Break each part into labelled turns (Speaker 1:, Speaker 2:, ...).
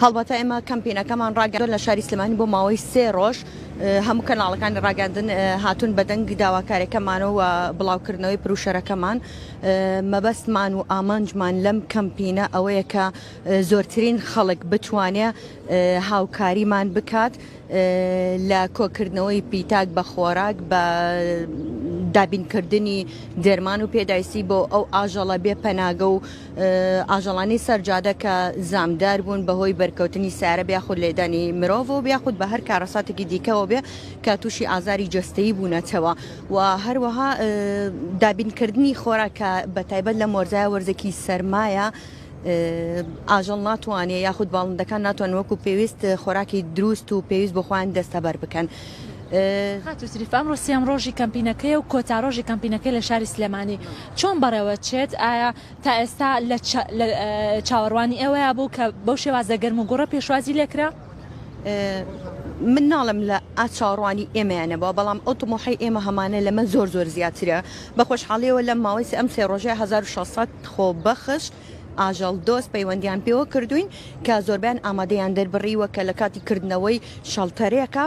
Speaker 1: هەڵبەتە ئێمە کەمپینەکەمان ڕاگەیاندووە لە شاری سلێمانی بۆ ماوەی سێ ڕۆژ هەموو کەناڵەکانی ڕاگەاندن هاتوون بە دەنگ داواکارەکەمانەوە بڵاوکردنەوەی پروشەرەکەمان مەبەستمان و ئامانجمان لەم کەمپینە ئەوەیە کە زۆرترین خەڵک بتوانێ هاوکاریمان بکات لە کۆکردنەوەی پیتاک بە خۆراک بە دابینکردنی دەرمان و پێدایسی بۆ ئەو ئاژەڵە بێ پەناگە و ئاژەڵانی سەر جادە کە زامدار بوون بەهۆی بەرکەوتنی سارە بێ یاخود لێدانی مرۆڤەوە بێ یاخود بە هەر کارەساتێکی دیکەەوە بێ کە تووشی ئازاری جەستەیی بوونەتەوە و هەروەها دابینکردنی خۆراک کە بە تایبەت لە مۆرزای وەرزێکی سەرمایە ئاژەڵ ناتوانێت یاخود باڵندەکان ناتوان وەکو پێویست خۆراکی دروست و پێویست بۆ خۆیان دەستەبەر بکەن. خاتوو
Speaker 2: شریف ئەمڕۆ سێیەم ڕۆژی کەمپینەکەیە و کۆتا ڕۆژی کەمپینەکەی لە شاری سلێمانی چۆن بەڕێوەچێت؟ ئایا تا ئێستا لە چاوەڕوانی ئێوەیا بوو کە بەو شێوازە گەرم و گوڕە پێشوازی لێکرا؟
Speaker 1: من ناڵێم لە ئا چاوەڕوانی ئێمەیان نەبوە، بەڵام ئەو تموحەی ئێمە هەمانە لەمە زۆر زۆر زیاترە، بە خۆشحاڵیەوە لەم ماوەی سێ ئەم سێ ڕۆژەی هەزار و شەش سەد خۆبەخش ئاژەڵ دۆست پەیوەندیان پێوە کردوین کە زۆربەیان ئامادەیان دەربڕیوە کە لە کاتی کردنەوەی شەڵتەرێکە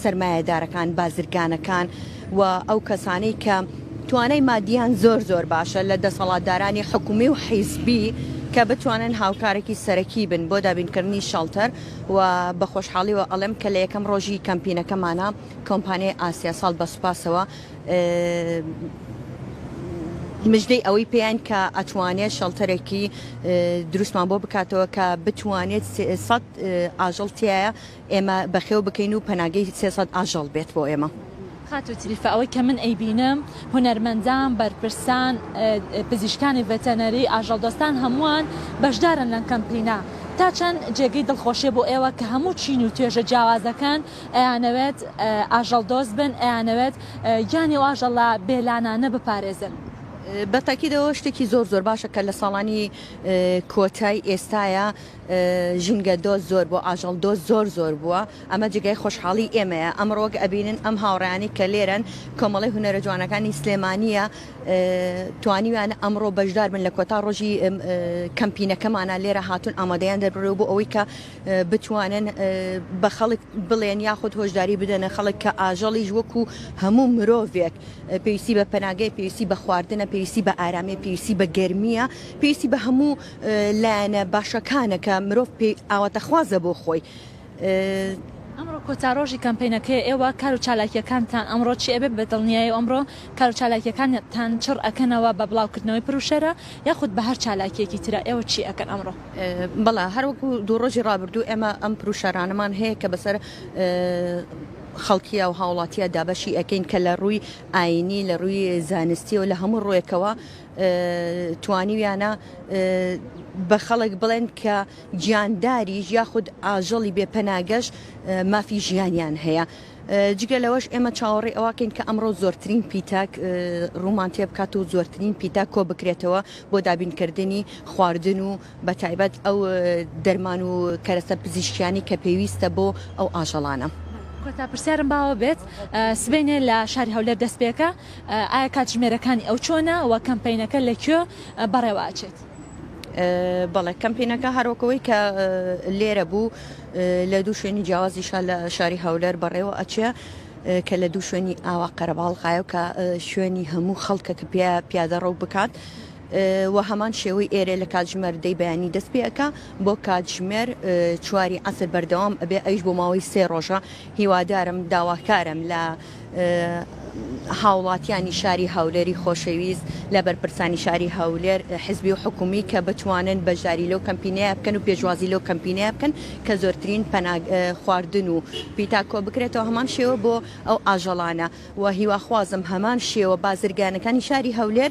Speaker 1: سەرمایەدارەکان، بازرگانەکان و ئەو کەسانەی کە توانای مادیان زۆر زۆر باشە لە دەسەڵاتدارانی حکومی و حیزبی کە بتوانن هاوکارەکی سەرەکی بن بۆ دابینکردنی شەڵتەر و بە خۆشحاڵیەوە ئەڵێم کە لە یەکەم ڕۆژی کەمپینەکەمانا کۆمپانیای ئاسیا ساڵ بە سوپاسەوە مژدەی ئەوەی پێیان کە ئەتوانێت شەڵتەرێکی دروستمان بۆ بکاتەوە کە بتوانێت سێ سەد ئاژەڵ تایە ئێمە بەخێو بکەین و پەناگەی سێ سەد ئاژەڵ بێت بۆ ئێمە. خاتوو تریفە
Speaker 2: ئەوەی کە من ئەیبینم هونەرمەندان، بەرپرسان، پزیشکانی ڤێتەنەری، ئاژەڵدۆستان هەمووان بەشدارن لەم کەمپینە، تا چەند جێگەی دڵخۆشیە بۆ ئێوە کە هەموو چین و توێژە جیاوازەکان ئەیانەوێت ئاژەڵدۆست بن، ئەیانەوێت گیانی ئەو ئاژەڵە بێلانانە بپارێزن؟ بە تاکیدەوە
Speaker 1: شتێکی زۆر زۆر باشە کە لە ساڵانی کۆتای ئێستایە، ژینگە دۆست زۆر بووە ئاژەڵ دۆست زۆر زۆر بووە ئەمە جێگای خۆشحاڵی ئێمەیە ئەمڕۆ وەک ئەبینن ئەم هاوڕێیانی کە لێرەن کۆمەڵی هونەرە جوانەکانی سلێمانیە توانیویانە ئەمڕۆ بەشدار بن لە کۆتا ڕۆژی کەمپینەکەمانە لێرە هاتون ئامادەیان دەربڕێ بۆ ئەوەی کە بتوانن بە خەڵک بڵێن یاخود هۆشداری بدەنە خەڵک کە ئاژەڵیش وەکو هەموو مرۆڤێک پێویستی بە پەناگەی پێویستی بە خواردنە پێویستی بە ئارامی پێویستی بە گەرمیە پێویستی بە هەموو لایەنە باشەکانەکە مرۆڤ پێی ئاواتەخوازە بۆ خۆی.
Speaker 2: ئەمڕۆ کۆتا ڕۆژی کەمپەینەکەیە ئێوە کار و چالاکیەکانتان ئەمڕۆ چی ئەبێت بە دڵنیایەوە ئەمڕۆ کار و چالاکیەکانتان چڕ ئەکەنەوە بە بڵاو کردنەوەی پروشەرە یاخود بە هەر چالاکیەکی ترە ئێوە چی ئەکەن ئەمڕۆ؟ بەڵێ هەروەکو
Speaker 1: دوو ڕۆژی ڕابردوو ئێمە ئەم پروشەرانەمان هەیە کە بەسەر خەڵکیە و هاوڵاتیە دابەشی ئەکەین کە لە ڕووی ئاینی لە ڕووی زانستی و لە هەموو ڕووێکەوە توانیویانە بە خەڵک بڵێن کە گیانداریش یاخود ئاژەڵی بێ پەناگەش مافی ژیانیان هەیە. جگە لەوەش ئێمە چاوەڕی ئەوواکەین کە ئەمڕۆ زۆرترین پیتاک ڕوومان تێ بکات و زۆرترین پیتا کۆ بکرێتەوە بۆ دابینکردنی خواردن و بە تایبەت ئەو دەرمان و کەرەسە پزیشکیانی کە پێویستە بۆ ئەو ئاژەڵانە. کۆتا پرسیارم
Speaker 2: باوە بێت سبەینێ لە شاری هەولێر دەست پێکە ئایا کاتژمێرەکانی ئەو چۆنە و کەمپینەکە لە کوێ بەڕێوە ئەچێت؟
Speaker 1: بەڵێ کەمپینەکە هەرۆکەوەی کە لێرە بوو لە دوو شوێنی جیاوازی شار لە شاری هەولەر بەڕێوە ئەچێ کە لە دوو شوێنی ئاوا قەرەباڵغایە و کە شوێنی هەموو خەڵکە کە پێ پیادە ڕەو بکات وە هەمان شێوەی ئێرێ لە کاتژمێر دەی بەیانی دەست پێ ئەکا بۆ کاتژمێر چواری عەسر بەردەوام ئەبێ ئەویش بۆ ماوەی سێ ڕۆژە هیوادارم داواکارم لە هاوڵاتیانی شاری هەولێری خۆشەویست لە بەرپرسانی شاری هەولێر حزبی و حکومی کە بتوانن بەشداری لەو کەمپینەیە بکەن و پێشوازی لەو کەمپینەیە بکەن کە زۆرترین پەناگ خواردن و پیتا کۆ بکرێتەوە هەمان شێوە بۆ ئەو ئاژەڵانە و هیواخوازم هەمان شێوە بازرگانەکانی شاری هەولێر